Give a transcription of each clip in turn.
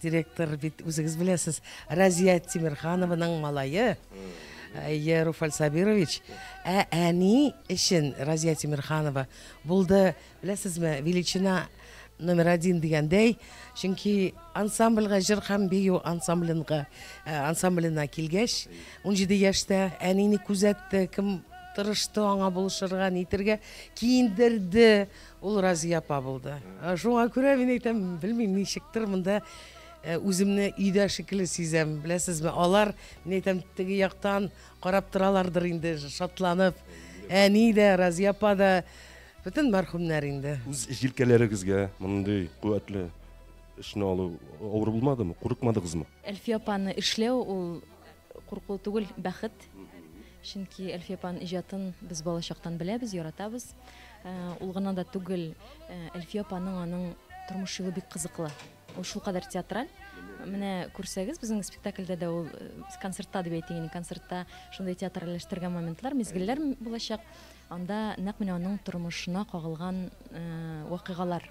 Директор бит үзегез беләсез, Разия Тимирханованың малае. Әйе, Руфаль Сабирович. Ә әни өчен Разия Тимирханова булды, беләсезме, величина номер один дигәндәй, чөнки ансамбльгә җыр һәм бию ансамблинга э, ансамблена килгәч, 17 яшьтә әнине күзәтте, кем тырышты аңа булышырга, нитергә, киендерде, Ул Разия апа булды. Шуңа күрә мин әйтәм, белмим, ничектер монда үземне өйдә шикелле сизәм. Беләсезме, алар, мин әйтәм, теге яктан карап торалардыр инде, шатланып. Әни дә, Разия апа да, бөтен мәрхүмнәр инде. Үз җилкәләрегезгә мондый куәтле эшне алу авыр булмадымы, курыкмадыгызмы? Әлфия апаны эшләү ул курку түгел, бәхет. Чөнки Әлфия апаның иҗатын без балачактан беләбез, яратабыз. Ул гына да түгел, Әлфия апаның аның тормыш юлы бик кызыклы. Ул шулкадәр театраль. Менә күрсәгез, безнең спектакльдә дә ул концертта дип әйтәйин, концертта шундый театральләштергән моментлар, мизгелләр булачак. Анда нәкъ менә аның тормышына кагылган вакыйгалар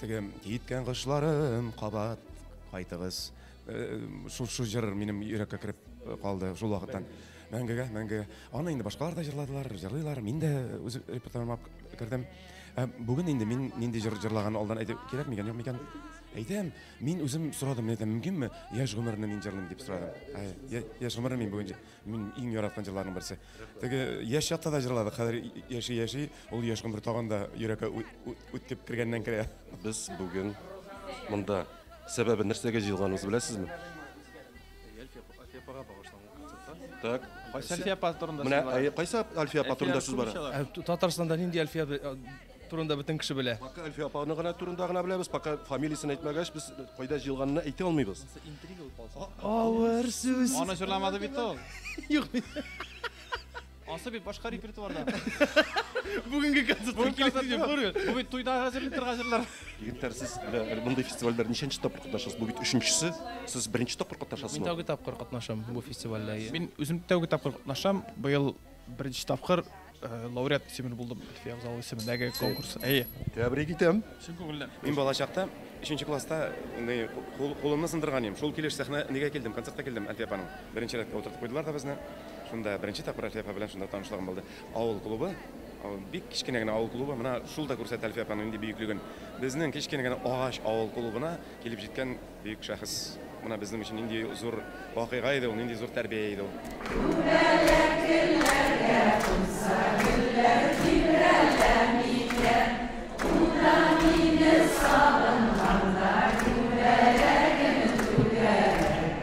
Теге киткән кошларым кабат кайтыгыз. Э, шул шул җыр минем йөрәккә кереп э, калды шул вакыттан. Мәңгегә, мәңгегә. Аны инде башкалар да җырладылар, җырлыйлар. Мин дә үз репертуарыма кердем. Ә бүген инде мин нинди җыр җырлаган алдан әйтеп кирәк микән, юк микән? Әйтәм, мин үзем сорадым, әйтәм, мөмкинме? Яшь гомерне мин җырлыйм дип сорадым. Яшь гомерне мин бүген Мин иң яраткан җырларның берсе. Теге яшь чакта да җырладык, хәзер яши-яши, ул яшь гомер тагын да йөрәккә үтеп кергәннән керә. Без бүген монда сәбәбе нәрсәгә җыелганыбызны беләсезме? Әлфия апага багышланган концертта. Так. Кайсы Әлфия апа турында сүз бара? Менә кайсы Әлфия апа турында сүз бара? Татарстанда нинди Әлфия Турында бөтен кеше белә. Пока Әлфия апаны гына турында гына беләбез, пока фамилиясен әйтмәгәч, без кайда җыелганын әйтә алмыйбыз. Авыр сүз. Аны җырламады бит ул. Юк. Асы бит башка репертуарда. Бүгенге концерт. Бүгенге концерт. Бу бит туйда хәзер интерга җырлар. Егетләр, сез әле мондый фестивальдә ничәнче тапкыр катнашасыз? Бу бит өченчесе. Сез беренче тапкыр катнашасызмы? Мин тәүге тапкыр катнашам бу фестивальдә. Мин үзем тәүге тапкыр катнашам. Быел беренче тапкыр Э, лауреат исемен булдым әлфия абзал исемендәге конкурс әйе тәбрик итәм чын күңелдән мин балачакта өченче класста андай кулымны сындырган идем шул килеш сәхнәгә килдем концертка килдем әлфия апаның беренче рәткә утыртып куйдылар да безне шунда беренче тапкыр әлфия апа белән шунда танышлыгым булды авыл клубы бик кечкенә генә авыл клубы мына шул да күрсәтә әлфия апаның нинди бөеклеген безнең кечкенә генә агач авыл клубына килеп җиткән Бөек шәхес менә безнең өчен нинди зур вакыйга иде ул, нинди зур тәрбия иде ул. Күбәләк гөлләргә кунса, гөлләр тибрәләмигә, ул да мине сагынганда күбәләген түгәрәк,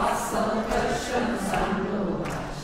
асыл кышым сандугач,